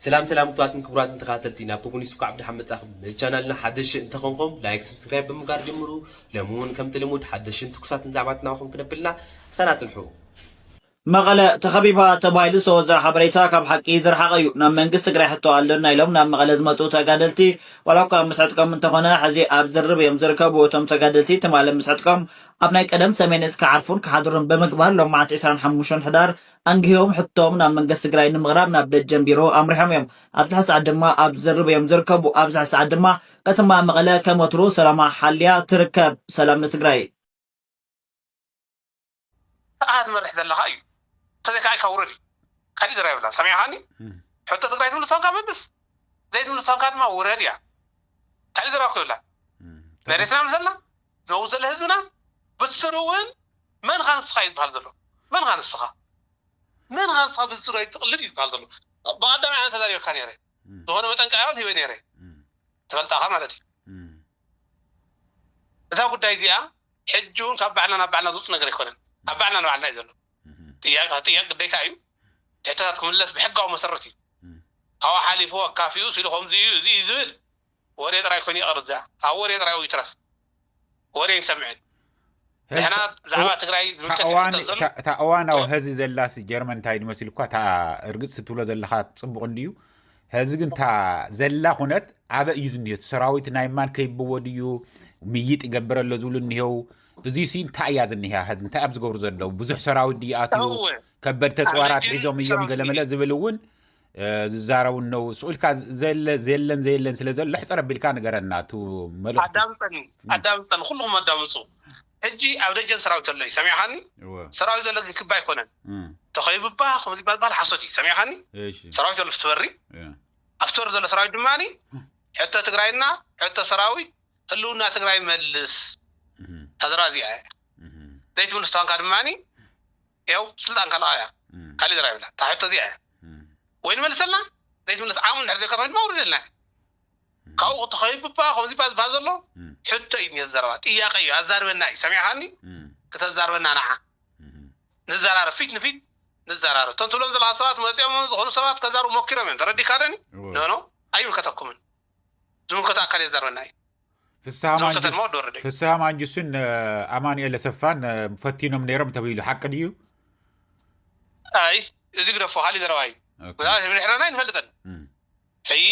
ሰላም ሰላም ክቡራትን ክቡራትን ተካታተልቲ ናብ ኮሙኒስት እንኳዕ ብደሓን መጻኹም ነዚ ቻናልና ሓደሽቲ እንተኾንኩም ላይክ ሰብስክራይብ ብምግባር ጀምሩ ሎሚ እውን ከምቲ ልሙድ ሓደሽትን ትኩሳትን ዛዕባታት ናባኹም ክነብልና ምሳና ጽንሑ መቐለ ተኸቢባ ተባሂሉ ዝተወዘዐ ሓበሬታ ካብ ሓቂ ዝረሓቐ እዩ። ናብ መንግስቲ ትግራይ ሕቶ ኣሎና ኢሎም ናብ መቐለ ዝመፁ ተጋደልቲ ዋላ እኳ ምስ ዕጥቆም እንተኾነ ሕዚ ኣብ ዝርርብ እዮም ዝርከቡ። እቶም ተጋደልቲ ትማሊ ምስ ዕጥቆም ኣብ ናይ ቀደም ሰሜን እዝ ክዓርፉን ክሓድሩን ብምግባር ሎማዕንቲ ዕስራን ሓሙሽተን ሕዳር ኣንጊሆም ሕቶኦም ናብ መንገስቲ ትግራይ ንምቕራብ ናብ ደጀን ቢሮ ኣምሪሖም እዮም። ኣብዚ ሕዚ ሰዓት ድማ ኣብ ዝርርብ እዮም ዝርከቡ። ኣብዚ ሕዚ ሰዓት ድማ ከተማ መቐለ ከም ወትሩ ሰላማ ሓልያ ትርከብ። ሰላም ንትግራይ! ንዓኻ ትመርሕ ዘለኻ እዩ እንተዘይ ካዓ ኢልካ ውረድ እዩ ካሊእ ዘረባ የብላን ሰሚዕኻኒ ሕቶ ትግራይ ትምልስ ተኮንካ መልስ ዘይትምልስ ተኮንካ ድማ ውረድ እያ ካሊእ ዘረባ እኮ የብላን መሬትና ምልሰልና ነዉ ዘሎ ህዝብና ብስሩ እዉን መን እኻ ንስኻ እዩ ዝብሃል ዘሎ መን እኻ ንስኻ መን እኻ ንስኻ ብዝፅሩ ኣይትቅልድ እዩ ዝብሃል ዘሎ ብቀዳማይ ኣነ ተዛሪበካ ነይረ ዝኾነ መጠንቀቅያ እዉን ሂበ ነይረ ትፈልጣ እኻ ማለት እዩ እዛ ጉዳይ እዚኣ ሕጂ እዉን ካብ ባዕልና ናብ ባዕልና ዝዉፅ ነገር ኣይኮነን ኣብ ባዕልና ንባዕልና እዩ ዘሎ ጥያቂ ተጥያቂ ግዴታ እዩ ሕቶታት ክምለስ ብሕጋዊ መሰረት እዩ ካብኡ ሓሊፉ ኣካፊኡ ስኢሉ ከምዚ እዩ እዚ እዩ ዝብል ወሬ ጥራይ ኮይኑ ይቅር እዚኣ ኣብ ወሬ ጥራይ ይትረፍ ወሬ ኣይንሰምዕን ንሕና ብዛዕባ ትግራይ ዝምልከት እዩ ሕቶ ዘሎ እታ እዋናዊ ሀዚ ዘላሲ ጀርመን እንታይ ድመስልኳ እታ እርግፅ ትብሎ ዘለካ ፅቡቅ እንድዩ ሀዚ ግን እታ ዘላ ኩነት ኣበ እዩ ዝኒሄ እቲ ሰራዊት ናይ ማን ከይብዎ ድዩ ምይጥ ይገብረ ኣሎ ዝብሉ እኒሄው እዚ ሲ እንታይ እያ ዝኒሃ ሀዚ እንታይ ኣብ ዝገብሩ ዘለው ብዙሕ ሰራዊት ድዩ ኣትዩ ከበድ ተፅዋራት ሒዞም እዮም ገለመለ ዝብል እውን ዝዛረቡ እነዉ ሱቅ ኢልካ ዘለ ዘየለን ዘየለን ስለ ዘሎ ሕፅር ኣቢልካ ንገረና እቱ መልእኽቱ ኣዳምፀኒ ኣዳምፀኒ ኩሉኹም ኣዳምፁ ሕጂ ኣብ ደጀን ሰራዊት ኣሎ እዩ ሰሚዕኻኒ እወ ሰራዊት ዘሎ ግን ክቢ ኣይኮነን እም፣ ተኸይብባ ከምዚ ዝበሃል በሃል ሓሶት እዩ ሰሚዕኻኒ እሺ ሰራዊት ዘሎ ፍቲ በሪ እ፣ ኣብ ፍቲ በሪ ዘሎ ሰራዊት ድማ ሕቶ ትግራይና ሕቶ ሰራዊት ህልውና ትግራይ መልስ እም፣ ታዘራ እዚኣ እያ እም። ዘይትምልስ ተዋንካ ድማ ያው ስልጣን ካልኣ እያ ካሊእ ዘረባ የብላን እታ ሕቶ እዚኣ እያ ወይ ንመልሰልና ዘይትምለስ ዓቕሚ እንድሕር ዘይካ ተኮይኑ ድማ ኣውርደልና እያ ካብኡ ክትኸይዱ እባ ከምዚ እባ ዝበሃል ዘሎ ሕቶ እዩ እኒኦ ዘረባ ጥያቐ እዩ ኣዛርበና እዩ ሰሚዕኻኒ ክተዛርበና ንዓ ንዘራረብ ፊት ንፊት ንዘራረብ እቶም ትብሎም ዘለኻ ሰባት መፂኦም ዝኾኑ ሰባት ከዛርቡ ሞኪሮም እዮም ተረዲእካ ዶኒ ኖኖ ኣይምልከተኩምን ዝምልከቶ ኣካል የዛርበና እዩ። ፍስሃ ማንጁስን ኣማኒኤል ኣሰፋን ፈቲኖም ነይሮም ተብሂሉ ሓቂ ድዩ? ኣይ እዚ ግደፎ ካሊእ ዘረባ እዩ ምናልባት ብድሕረና ኣይንፈልጥን ሕይ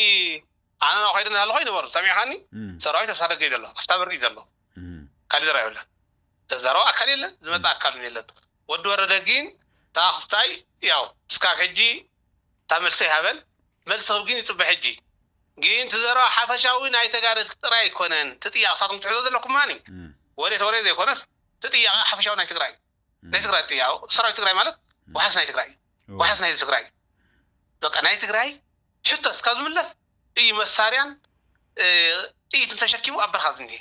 ኣነ ናብኡ ከይደ እናሃለኹ ይነበሩ ሰሚዕኻኒ ሰራዊት ኣብ ሳደገይ ዘሎ ኣብታ በሪ እዩ ዘሎ ካሊእ ዘረባ የብላን ዘዛረቦ ኣካል የለን ዝመፀ ኣካል እውን የለን ወዲ ወረደ ግን ተኣኽስታይ ያው እስካብ ሕጂ እታ መልሲ ኣይሃበን መልሲ ክህብ ግን ይጽበ ሕጂ ግን እቲ ዘረባ ሓፈሻዊ ናይ ተጋደልቲ ጥራይ ኣይኮነን እቲ ጥያቂ ንሳትኩም ትሕዞ ዘለኩም ማኒ ወሬ ተወሬ ዘይኮነስ እቲ ጥያቂ ሓፈሻዊ ናይ ትግራይ እዩ ናይ ትግራይ ጥያቂ ሰራዊት ትግራይ ማለት ዋሕስ ናይ ትግራይ እዩ ዋሕስ ናይ ህዝቢ ትግራይ እዩ በቃ ናይ ትግራይ ሕቶ እስካብ ዝምለስ እዩ መሳርያን ጥይትን ተሸኪሙ ኣብ በረካ ዝኒሀ።